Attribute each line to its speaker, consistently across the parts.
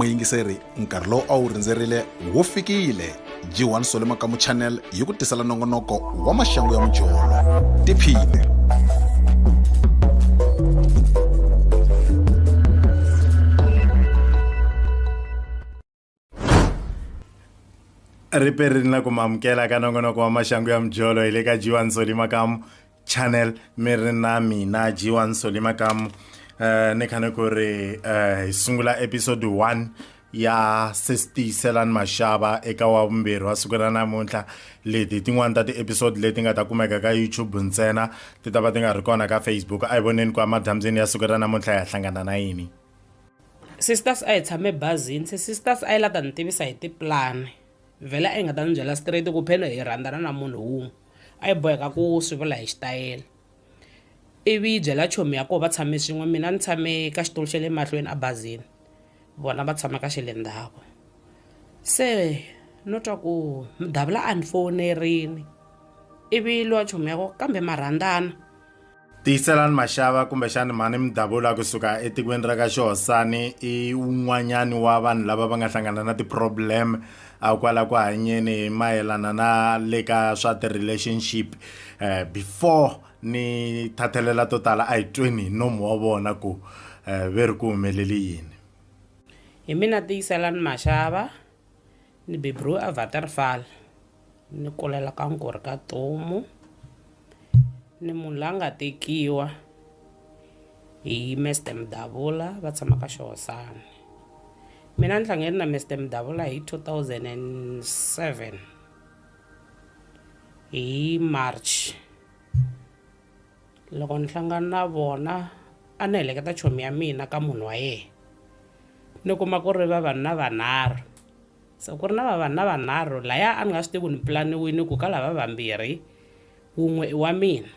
Speaker 1: muyingiseri nkarhi lowu a wu rindzerile wu fikile g1 solemakamu channel yi ku tisela nongonoko wa maxangu ya mujolo tiphine
Speaker 2: ri perini na ku mi amukela ka nongonoko wa maxangu ya mijolo hi le ka jiwa nsoli makamu channel mi ri na mina jiwa nsoli makamu um ni khane ku ri um hi sungula episode one ya sestiyiselani maxava eka wa vumbirhi wa siku ra namuntlha leti tin'wani ta ti-episode leti nga ta kumeka ka youtube ntsena ti ta va ti nga ri kona ka facebook a hi voneni ku emadyambyeni ya siku ra namuntlha hi ya hlangana na yini sisters
Speaker 3: a hi tshame bazini se sisters a yi la ta ni tivisa hi tipulani vhele a yi nga ta ni byela straight ku pheno hi rhandzana na munhu wun'we a yi boheka ku swi vula hi xitayele ivi yi byela chomi ya koho va tshame swin'we mina ni tshame ka xitulu xa le mahlweni abazini vona va tshama ka xe le ndzhaku se no twa ku mudavula a ni fowunerini ivi lowa chomi ya koho kambe ma rhandzana tiyiselani
Speaker 2: maxava kumbexani mhani midabula kusuka etikweni ra ka xihosani i un'wanyani wa vanhu lava va nga hlangana na ti-problem a kwala ku hanyeni hi mayelana na le ka swa ti-relationship um before ni thathelela to tala a hi tweni hi nomu wa vona ku um ve ri ku humeleli yini hi
Speaker 3: mina tiyiselani maxava Ni beburiwe eWaterval ni kulela ka Nkuri ka Tomu ni munhu la nga tekiwa hi Mister Mdavula va tshama ka Xihosana mina ni hlangane na Mister Mdavula hi two thousand and seven hi March. loko ni hlangana na vona a ni heleketa chomi ya mina ka munhu wa yena ni kuma ku ri vavanuna vanharhu se ku ri na vavanuna vanharhu laya a ni nga swi tivi ku ni pulaniwini ku ka lava vambirhi wun'we i wa mina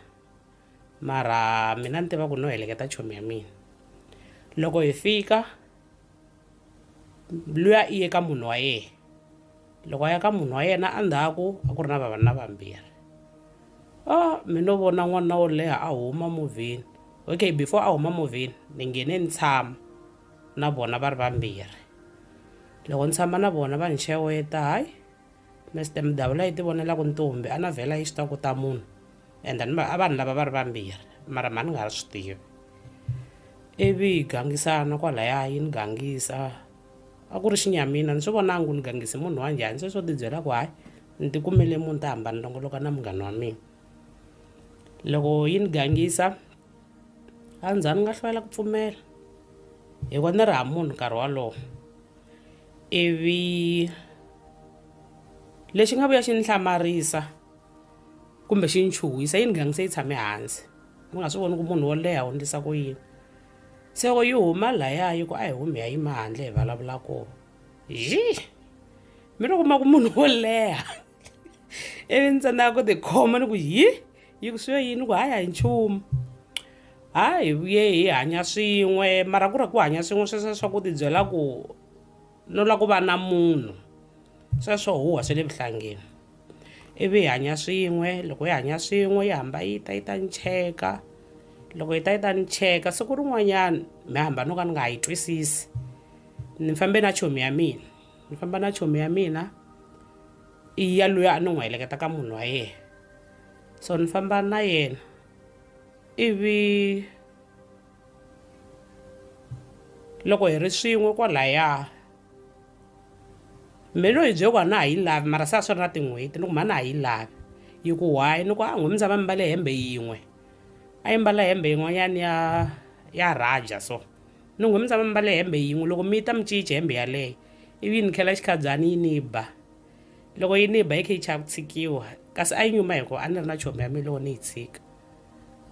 Speaker 3: mara mina ni tiva ku no heleketa chomi ya mina loko hi fika mbilu ya i eka munhu wa yena loko a ya ka munhu wa yena endzhaku a ku ri na vavanuna vambirhi a mi no vona n'wanuna wo leha a huma movheni okay before a huma movheni ni nghene ni tshama na vona va ri vambirhi loko ni tshama na vona va ni xeweta hayi Mister Mdawu la yi ti vonelaku ntombi a na vhela yi swi tiva ku ta munhu and then a vanhu lava va ri vambirhi mara mhani nga ha swi tivi ivi yi gangisana kwalaya yi ni gangisa a ku ri xinyamina ni swi vonangi ku ni gangise munhu wa njhani se swo tibyela ku hayi ni ti kumele munhu ta hamba ni longoloka na munghana wa mina loko yi ni gangisa a ndza ni nga hlwela ku pfumela hikuva ni ri ha munhu nkarhi wolowo ivi lexi nga vuya xi ni hlamarisa kumbe xi ni chuhisa yini gangi se yi tshame hansi ni nga swi voni ku munhu wo leha u ndlisa ku yini se loko yi huma laya yi ku a hi humi ya yima handle hi vulavula ku yi mi ri kuma ku munhu wo leha ivi ni tsandzeka ku tikhoma ni ku hi yi ku swiyo yini ku hayi a hi nchumu ha hi vuye hi hanya swin'we mara ku ri ku hanya swin'we sweswo swa ku tibyela ku no lava ku va na munhu sweswo huwa swe le vuhlangeni ivi hi hanya swin'we loko hi hanya swin'we yi hamba yi ta yi ta ni cheka loko yi ta yi ta ni cheka siku rin'wanyana mi hamba no ka ni nga yi twisisi ni fambe na chomi ya mina ni famba na chomi ya mina i ya loyi a ni n'wi heleketa ka munhu wa yena so ni famba na yena ivi loko hi ri swin'we kwalaya me lo hi byeko a na ha yi lavi mara se a swi ri na tin'hweti ni ku ma na ha yi lavi yi ku why ni ku a n'hwi mi tshama mi mbale hembe yin'we a yi mbala hembe yin'wanyana ya ya raja so Nungho mi tshama mi mbale hembe yin'we, loko mi ta mi cince hembe yaleyo, ivi yi ni khela xikhabyani yi ni ba. Loko yi ni ba yi khe yi chava ku tshikiwa, kasi a yi nyuma hikuva a ni ri na chomi ya mina loko ni yi tshika.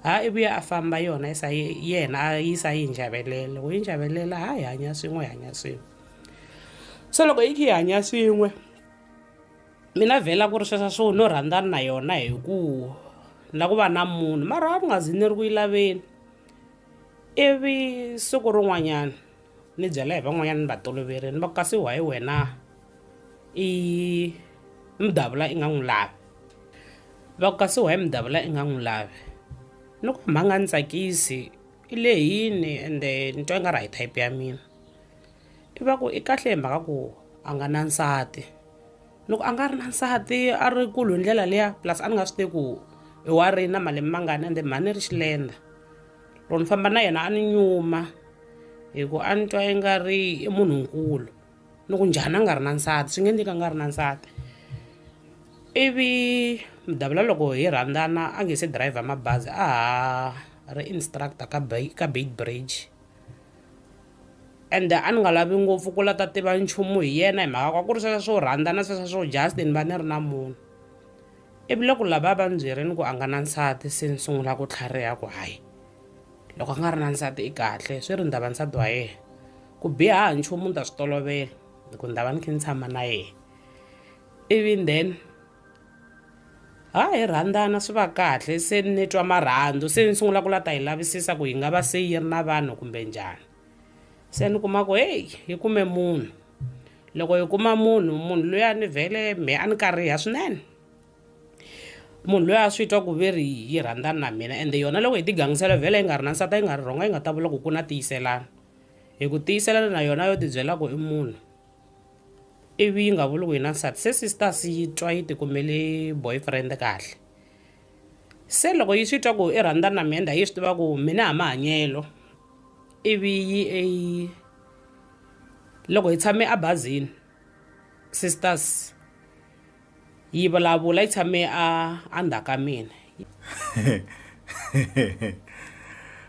Speaker 3: Ha i vuya a famba yona yi sa yena a yi sa yi njavelela, loko yi njavelela ha hi hanya swin'we hi hanya swin'we. Se loko yi khe yi hanya swin'we mi na vhela ku ri sweswo swo no rhandzana na yona hi ku na ku va na munhu mara a ni nga zi ni ri ku yi laveni. Ivi siku rin'wanyana ni byela hi van'wanyana ni va toloverile ni va ku kasi why wena i mudavula i nga n'wi lavi va ku kasi why mudavula i nga n'wi lavi ni ku hambi a nga ni tsakisi i lehini ende ni twa i nga ri a hi type ya mina i va ku i kahle hi mhaka ku a nga na nsati. loko a nga ri na nsati a ri kulu hi ndlela liya plus a ni nga swi tivi ku i wa ri na malembe mangani ende mhani ri xilenda loko ni famba na yena a ni nyuma hi ku a ni twa i nga ri i munhunkulu ni ku njhani a nga ri na nsati swi nge endleki a nga ri na nsati ivi mudavula loko hi rhandzana a nge se dirayivha mabazi a ha ri instructor ka ka beitbridge. ende a ni nga lavi ngopfu ku la ta tiva nchumu hi yena hi mhaka kwa ku ri sweswa swo rhandza na sweswa swo just ni va ni ri na munhu ivi loko lava va ni byerini ku a nga na nsati se ni sungula ku tlhariha ku hayi loko a nga ri na nsati i kahle swi ri ndava nsati wa yena ku biha ha nchumu ni ta swi tolovela hi ku ni ta va ni kha ni tshama na yena ivi then ha hi rhandzana swi va kahle se ni twa marhandzu se ni sungula ku la ta yi lavisisa ku yi nga va se yi ri na vanhu kumbe njhani se ni kuma ku heyi yi kume munhu loko yi kuma munhu munhu loyi a ni vhele me a ni kariha swinene munhu loyi a swi twa ku ve ri yi rhandzana na mina ende yona loko hi tigangisela vhele yi nga ri na nsati yi nga ri rhonga yi nga ta vula ku ku na tiyiselana hi ku tiyiselana na yona yo tibyela ku i munhu ivi yi nga vuli ku yi na nsati se sisters yi twa yi tikumele boyfriend kahle se loko yi swi twa ku i rhandza na mina yi swi tiva ku mina ha mahanyelo ivi yi e loko hi tshame ebazini sisters yi vulavula yi tshame a a ndzhaku ka mina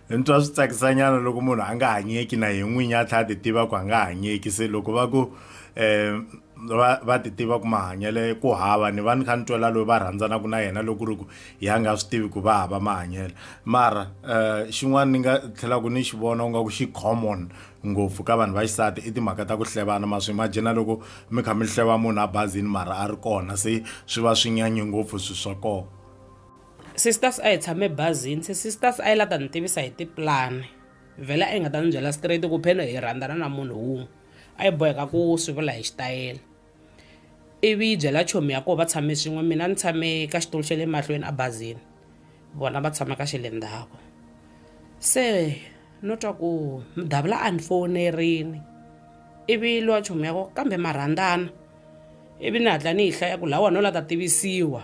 Speaker 2: ni twa swi tsakisanyana loko munhu a nga hanyeki na hi n'winyi a tlhela a ti tiva ku a nga hanyeki se loko va ku um va va ti tiva ku mahanyele ku hava ni va ni kha ni twela loyi va rhandzanaka na yena loko ri ku ya nga swi tivi ku va hava mahanyelo mara um xin'wana ni nga tlhelaka ni xi vona u nga ku xi common ngopfu ka vanhu va xisati i timhaka ta ku hlevana ma swi imagina loko mi kha mi hleva munhu abazini mara a ri kona se swi va swi nyanye ngopfu swi swa kona sisters
Speaker 3: a hi tshame bazini se sisters a yi la ta ni tivisa hi tiplani vhele a yi nga ta ni byela straight ku pheno hi rhandzana na munhu wun'we a yi boheka ku swi vula hi xitayela ivi yi byela chomi ya koho va tshame swin'we mina ni tshame ka xitulu xa le mahlweni abazini vona va tshama ka xe le ndzhaku se no twa ku mudavula a ni fonerini ivi lowa chomu yako kambe marhandzana ivi ni hatla ni yi hlaya ku laha wona u la ta tivisiwa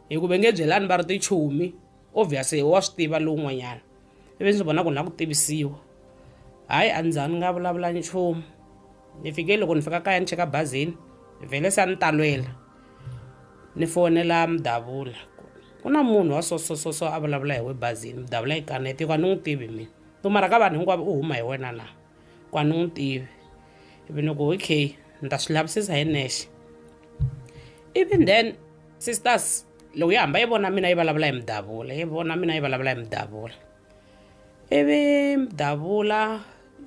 Speaker 3: hi ku ve nge byelani va ri tichomi obvious wa swi tiva lowun'wanyana ivi ndzi vona ku ni la ku tivisiwa hayi a ndza ni nga vulavula nchumu ni fike loko ni fika kaya ni cheka bazini vhele se a ni talwela ni fonela mudavula ku na munhu wa sosososo a vulavula hi we bazini mudavula yi kanete hikuva ni n'wi tivi mina ntomara ka vanhu hinkwavo u huma hi wena na ku a ni n'wi tivi ivi ni ku okay ni ta swi lavisisa hi nexe ivi then sisters loko yi hamba yi vona mina yi vulavula hi mudavula yi vona mina yi vulavula hi mudavula ivi mudavula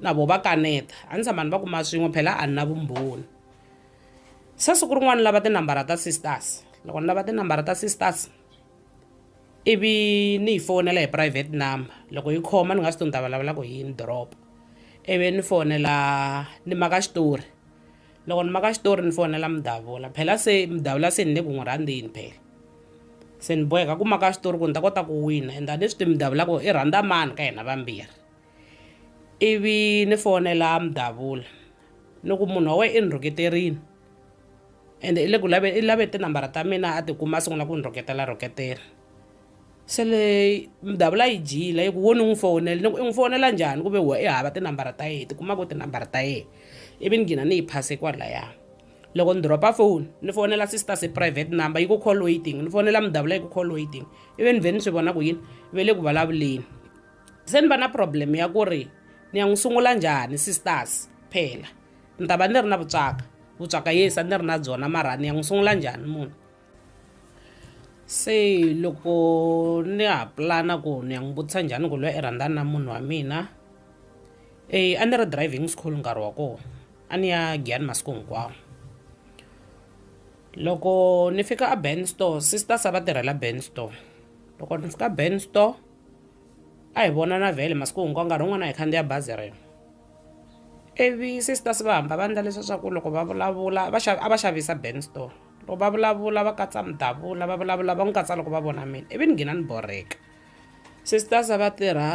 Speaker 3: na vo va kaneta a ni tshama ni va kuma swin'we phela a ni na vumbhoni se siku rin'wana lava tinambara ta sisters loko ni lava tinambara ta sisters ivi ni yi fowunela hi private number loko yi khoma ni nga swi tivi ni ta vulavula ku hi yini drop ivi ni fonela ni maka xitori loko ni maka xitori ni fonela mudavula phela se mudavula se ni le ku n'wi rhandzeni phela se ni boheka ku maka xitori ku ni ta kota ku wina and a ni swi tivi mudavula ku i rhandza mani ka hina vambirhi ivi ni fonela mudavula ni ku munhu wa wena i ni rhuketerile ende i le ku lave i lave tinambara ta mina a tikuma a sungula ku ni rhoketela rhoketela se le mdavula yi dyile yi ku wo ni n'wi fowunela ni ku i n'wi fowunela njhani ku ve huwa i hava tinambara ta yena tikuma ku tinambara ta yena ivi ni gina ni yi phase kwalaya loko ni dropa foni ni fowunela sister se private number yi ku call waiting ni fowunela mdavula yi ku call waiting ivi ni vhe ni swi vona ku yini ve le ku vulavuleni se ni va na problem ya ku ri ni ya n'wi sungula njhani sisters phela Ni ta va ni ri na vutswaka. Vutswaka yes a ni ri na byona mara ni ya n'wi sungula njhani munhu? Se loko ni ha pulana ku ni ya n'wi vutisa njhani ku loyi i rhandzana na munhu wa mina, e a ni ri driving school nkarhi wa kona, a ni ya Giyani masiku hinkwawo. Loko ni fika a Ben store sisters a va tirhela Ben store. Loko ni fika Ben store, a hi vonana vhele masiku hinkwawo nkarhi wun'wana a hi khandziya bazi rin'we. ivi sisters va hamba va ndla leswa swa ku loko va vulavula va a va xavisa band store loko va vulavula va katsa mudavula va vulavula va n'wi katsa loko va vona mina ivi ni nghina ni borheka sisters va tirha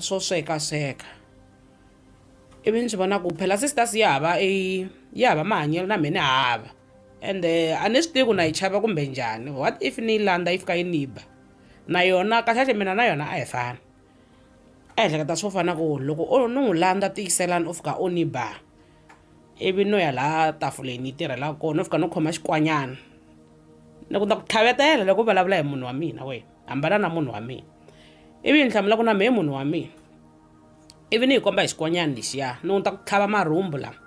Speaker 3: swo swekasweka ivi ni swi vona ku phela sisters ya hava i ya hava mahanyelo na mina hava ende a ni swi tivi ku na yi chava kumbe njhani what if ni yi landza yi fika yi ni ba na yona kahlekahle mina na yona a hi fani a ehleketa swo fana na ku loko o no n'wi landza tiyiselani u fika u ni ba ivi no ya laha tafuleni yi tirhelaka kona no fika no khoma xikwanyana ni ku na ku tlhavetela loko u vulavula hi munhu wa mina wena hambana na munhu wa mina ivi yi ni hlamula ku na mehe munhu wa mina ivi ni yi komba hi xikwanyana lexiya ni ku ta ku tlhava marhumbu lama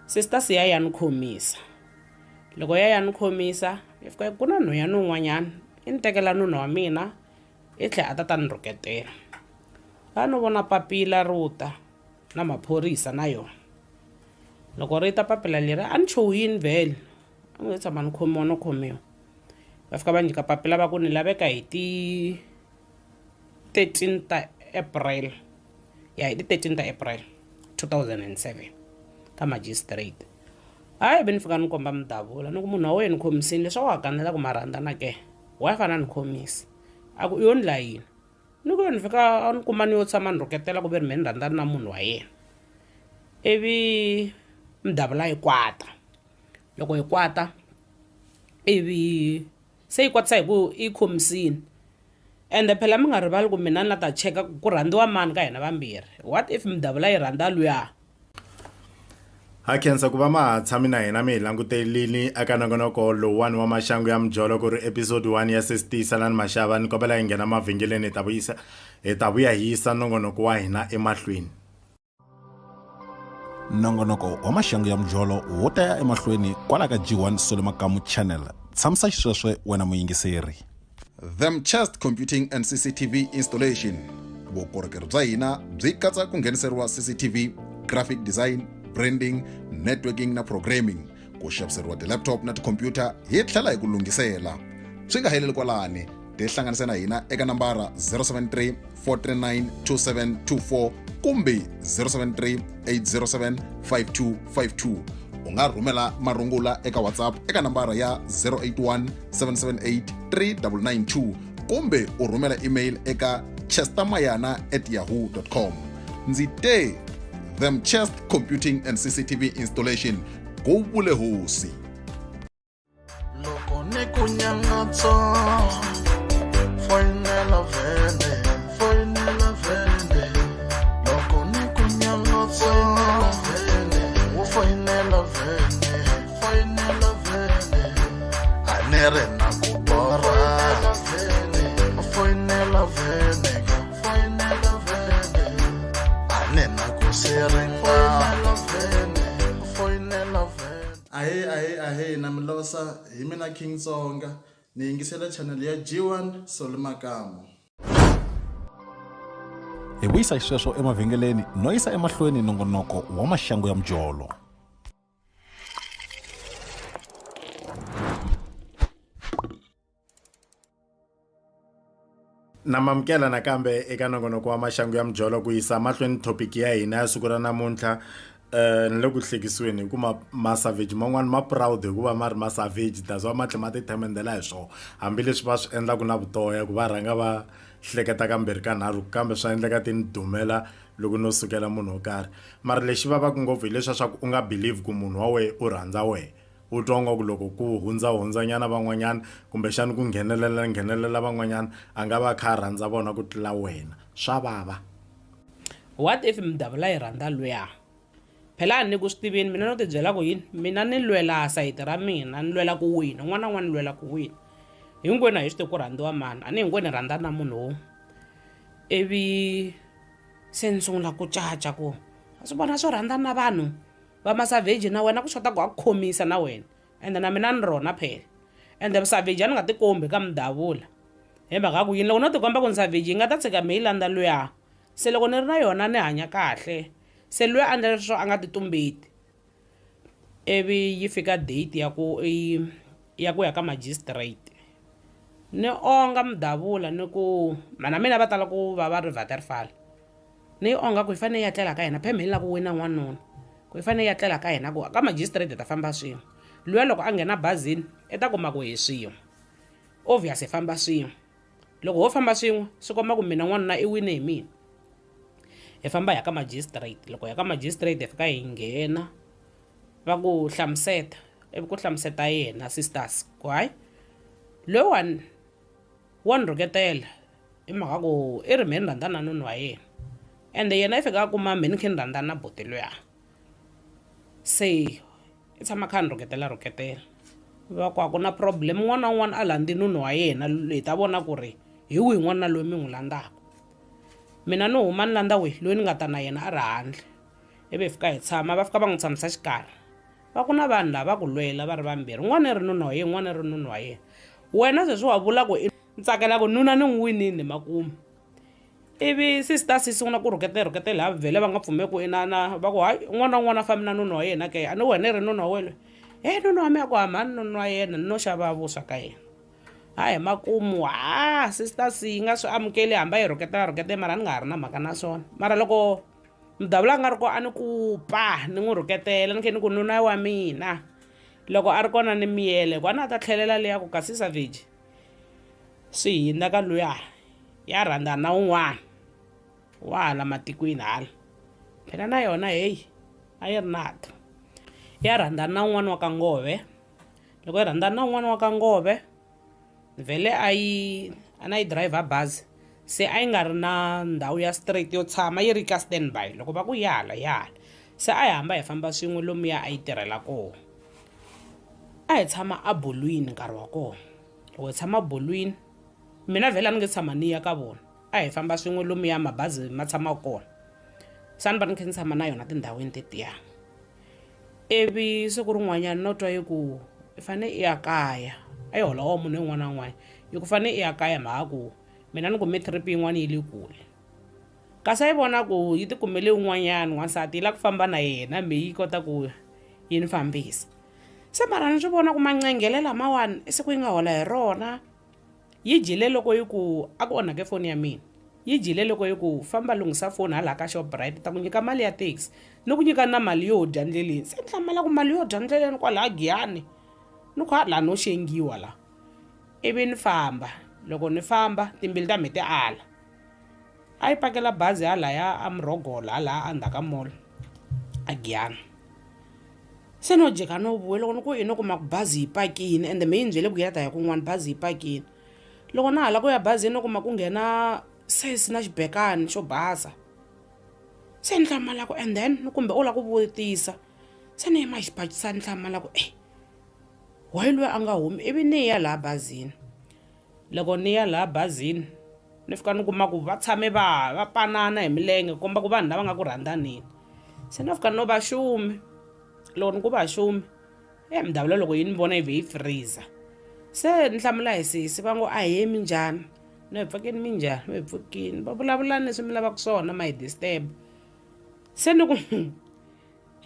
Speaker 3: sister siya ya ni khomisa loko ya ya ni khomisa yi fika yi ku na nhwanyana un'wanyana i ni tekela nuna wa mina I tlhe a ta ta ni rhuketela a no vona papila ro ta na maphorisa na yona loko ri ta papila leri a ni chuhini vhele a ngo tshama ni khomiwa no khomiwa va fika va nyika papila va ku ni laveka hi ti thirteen ta april ya hi ti thirteen ta april two thousand and seven ka magistrate hayi ve ni fika ni komba mudavula ni ku munhu wa wena ni khomisini leswaku wa kanela ku marhandzana ke Wife a na ni khomisa a ku, U yo ni la yini? Ni ku, Yo ni fika a ni kuma ni yo tshama ni rhuketela ku ve ni mehe ni rhandzana na munhu wa yena. Ivi Mdavula yi kwata, loko yi kwata ivi se yi kwatisa hi ku yi yi khomisile ende phela mi nga rivali ku mina ni la ta cheka ku ku rhandziwa mani ka hina vambirhi, what if Mdavula yi rhandza luya?
Speaker 2: ha khensa ku va ma ha tshami na hina mi hi langutelini eka nongonoko lowuwani wa maxangu ya mijolo ku ri episode 1 ya sesitiyiselani maxava ni kombela hi nghena mavhengeleni hi ta vuyisa hi ta vuya hi yisa nongonoko wa hina emahlweni
Speaker 1: nongonoko wa maxangu ya mijolo wo ta ya emahlweni kwala ka g1 solo makamu channel tshamisasisweswe wena muyingiseri them chest computing and cctv installation vukorhokeri bya hina byi katsa ku ngheniseriwa cctv graphic design branding networking na programming ku xaviseriwa ti-laptop na tikhompyuta hi tlhela hi ku lunghisela swi nga heleli kwalani tihlanganise na hina eka nambara 073 439 2724 kumbe 073 807 5252 u nga rhumela marungula eka whatsapp eka nambara ya 081 778 3992 kumbe u rhumela email eka chestermayana at yahoo com ndzi te them chest computing and cctv installation ku vule hosi loko
Speaker 4: ni ku nyangatso foyinela vhele foyinela vhele loko ni ku nyangatso vhele wo foyinela vhele
Speaker 5: king tsonga ni yingisela chanel ya g1 soli makamu
Speaker 1: hi vuyisa xisweswo emavhengeleni no yisa emahlweni nongonoko wa maxangu ya mujolo
Speaker 2: na mamukela nakambe eka nongonoko wa maxangu ya mijolo ku yisa mahlweni thopiki ya hina ya siku ra namuntlha eh ni le ku hlekisiweni hi ku ma masavage man'wani ma proud hikuva ma ri masavage that's why ma tlhe ma ti themendela hi swona hambileswi va swi endlaku na vutoya ku va rhanga va hleketa kambirhi ka nharhu kambe swa endleka ti ni dumela loko no sukela munhu wo karhi mara lexi vavaka ngopfu hileswa swa ku u nga believe ku munhu wa wehe u rhandza wehe u twa nga ku loko ku hundzahundzanyana van'wanyana kumbexana ku nghenelela nghenelela van'wanyana a nga va kha a rhandza vona ku tlula wena swa vava what
Speaker 3: if mdavula yi rhandza luya phela a ni ku swi tivini mina no tibyela ku yini mina ni lwela sayiti ra mina ni lwela ku wina un'wana na un'wana ni lwela ku wina hinkwenu a hi swi ti ku rhandziwa mani a ni hinkwenu hi rhandza na munhu wo ivi se ni sungula ku caca ku wa swi vona swo rhandza na vanhu va masavheji na wena ku xota ku wa ku khomisa na wena ende na mina ni rona phela ende vusavheji a ni nga tikombi ka mudavula hi mhaka ku yini loko no tikomba ku ni savheji yi nga ta tshika mi yi landza luya se loko ni ri na yona ni hanya kahle se luya a ndlela leswo a nga titumbeti ivi yi fika date ya ku i ya ku ya ka magistrate ni onga mudavula ni ku mhana mina va tala ku va va ri Waterval ni yi onga ku yi fanele yi ya tlela ka yena phe me ni lava ku wina n'wanuna ku yi fanele yi ya tlela ka yena ku ka magistrate hi ta famba swin'we luya loko a nghena bazini i ta kuma ku hi swin'we obvious hi famba swin'we. loko ho famba swin'we swi komba ku mina n'wanuna i wine hi mina hi famba hi ya ka magistrate loko hi ya ka magistrate hi fika hi nghena va ku hlamuseta ivi ku hlamuseta yena sisters ku hayi loyiwani wa ni rhuketela i mhaka ku i ri mhe ni rhandza na nunu wa yena ende yena i fika a kuma mhe ni khe ni rhandza na buti luya se i tshama a kha a ni rhuketela rhuketela va ku a ku na problem un'wana na un'wana a landzi nunu wa yena hi ta vona ku ri hi wihi n'wanuna loyi mi n'wi landzaka mina ni huma ni landza wihi loyi ni nga ta na yena a ri handle ivi hi fika hi tshama va fika va n'wi tshamisa xikarhi va ku na vanhu lava va ku lwela va ri vambirhi un'wana i ri nuna wa yena un'wana i ri nuna wa yena wena sweswi wa vula ku i ni tsakela ku nuna ni n'wi winile makumu ivi sister si sungula ku rhuketela rhuketela ha vhele va nga pfumeli ku inana va ku hayi un'wana na un'wana a fambi na nuna wa yena ke a ni wena i ri nuna wa wena e nuna wa mina ku hamba ni nuna wa yena ni no xava vuswa ka yena ha hi makumu ha sister si yi nga swi amukeli hamba yi rhuketela rhuketela mara ni nga ha ri na mhaka na swona mara loko mudavula a nga ri ko a ni ku pa ni n'wi rhuketela ni khe ni ku nuna wa mina loko a ri kona ni miyele ku a na a ta tlhelela leya ku ka sisa viji swi hindza ka luya ya rhandza na un'wana wa hala matikwini hala phela na yona heyi a yi ri nato ya rhandza na un'wana wa ka ngove loko yi rhandza na un'wana wa ka ngove vhele a yi a na yi driver bazi se a yi nga ri na ndhawu ya straight yo tshama yi ri ka standby loko va ku ya hala ya hala se a hi hamba hi famba swin'we lomuya a yi tirhela kona a hi tshama abolwini nkarhi wa kona loko hi tshama bolwini mina vhela ni nge tshama ni ya ka vona a hi famba swin'we lomuya mabazi ma tshamaka kona sa ni va ni kha ni tshama na yona tindhawini tetiya ivi siku rin'wanyana no twa yi ku i fanele i ya kaya a yi holowo munhu un'wana na un'wana yi ku fanele i ya kaya mhaka ku mina ni kume trip yin'wana yi le kule Kasi a yi vona ku yi ti kumele un'wanyana wansati yi lava ku famba na yena me yi kota ku yi ni fambisa se mara ni swi vona ku mancengele lamawani i siku yi nga hola hi rona yi dyile loko yi ku a ku onhake foni ya mina yi dyile loko yi ku famba lunghisa foni hala ka shoprite ta ku nyika mali ya taxi ni ku nyika na mali yo dya ndleleni se ni hlamala ku mali yo dya ndleleni kwalaha giyani ni ku ha laha no xengiwa laha ivi ni famba loko ni famba timbilu ta mhe ti ala A yi pakela bazi halaya a Murhogolo halaya a ndzhaka mall a Giyani se no jika no vuya loko ni ku i no kuma ku bazi yi pakini ende me yi ni byele ku ya ta ya kun'wana bazi yi pakini loko na ha la ku ya bazini no kuma ku nghena sesi na xibekani xo basa se ni hlamala ku and then ni kumbe u la ku vutisa se ni yima xibakisana ni hlamala ku e why lweyi a nga humi ivi ni ya laha bazini. Loko ni ya laha bazini ni fika ni kuma ku va tshame va va panana hi milenge ku komba ku vanhu lava nga ku rhandzaneni se no fika no va xumi loko ni ku va xumi e mudavula loko yi ni vona yi vhe yi freeze se ni hlamula hi sesi va ngo ahee minjhani no hi pfukini minjhani no hi pfukini va vulavula leswi mi lavaka swona ma hi disturb se ni ku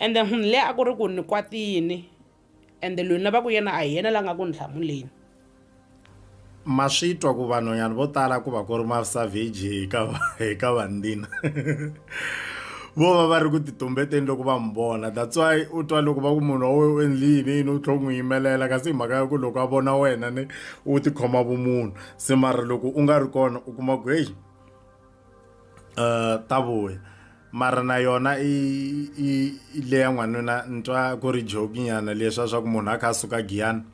Speaker 3: ende munhu leyi a ku ri ku ni kwatile. Ende loyi na va ku yena a hi yena la nga ku ni hlamuleni.
Speaker 2: Ma swi twa ku vanhonyana vo tala ku va ku ri masavheji hi ka hi ka vandina. Vo va va ri ku titumbeteni loko va n'wi vona that's why u twa loko va ku munhu wa wena u endli yini yini u tlhe u n'wi yimelela kasi hi mhaka ya ku loko a vona wena ni u tikhoma vumunhu se mara loko u nga ri kona u kuma ku heyi. uh, ta vuya mara na yona i i i le ya n'wanuna ntwa ku ri jokinyana leswa swa ku munhu a kha a suka giyana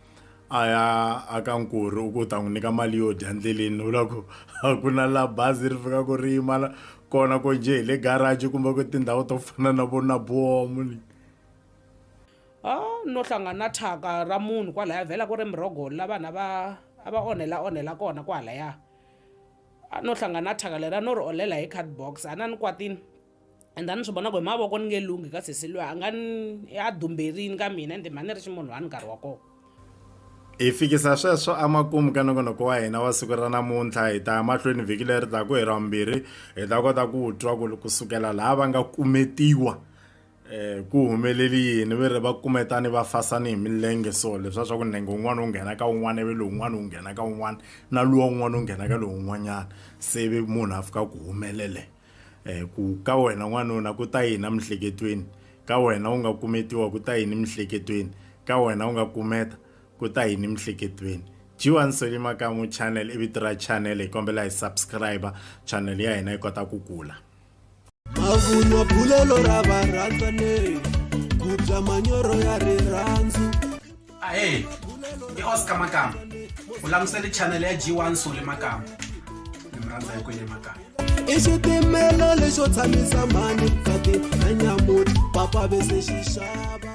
Speaker 2: a ya a ka nkuri u ku ta n'wi nyika mali yo dya ndleleni u la ku a ku na la bazi ri fika ku ri yima kona ko njhe hi le garaji kumbe ku tindhawu to fana na vo na bomu ni a
Speaker 3: no hlangana thyaka ra munhu kwalaya vhela ku ri mirhogolo la vanhu a va a va onhela onhela kona kwalaya a no hlangana na thyaka leri a no ri olela hi card box a na ni kwatini and a ni swi vona ku hi mavoko ni nge lunghi ka sesi loyi a nga ni a dumberini ka mina ende mhani ri xi munhu wa ni nkarhi wa kona hi
Speaker 2: fikisa sweswo emakumu ka nongonoko wa hina wa siku ra namuntlha hi ta ya mahlweni vhiki leri taku hi ra vumbirhi hi ta kota ku twa ku kusukela laha va nga kumetiwa eh, ku humeleli yini ve ri va kumetani va fasani hi milenge so leswi swa ku nenge un'wana wu nghena ka un'wana ivi lowun'wana wu nghena ka un'wana na luwa un'wana wu nghena ka lowun'wanyana se vi munhu a fika ku humelele um ku ka wena n'wanuna ku ta yini emihleketweni ka wena u nga kumetiwa ku ta yini emihleketweni ka wena u nga kumeta ku ta yini emihleketweni jiwa nsoli makamu channel i vito ra channel hi kombela hi subscribe channel ya hina yi kota ku kula mavunwa
Speaker 6: bulelo ra varhandzaneri ku bya manyoro ya rirhandzu ahee
Speaker 7: i oscar makamba u langusele chanele ya g1 sole makamba ni mi rhandza hi kwele makamba i xitimelo
Speaker 6: lexo tshamisa mhani tsati na nyamuti papa vese xixava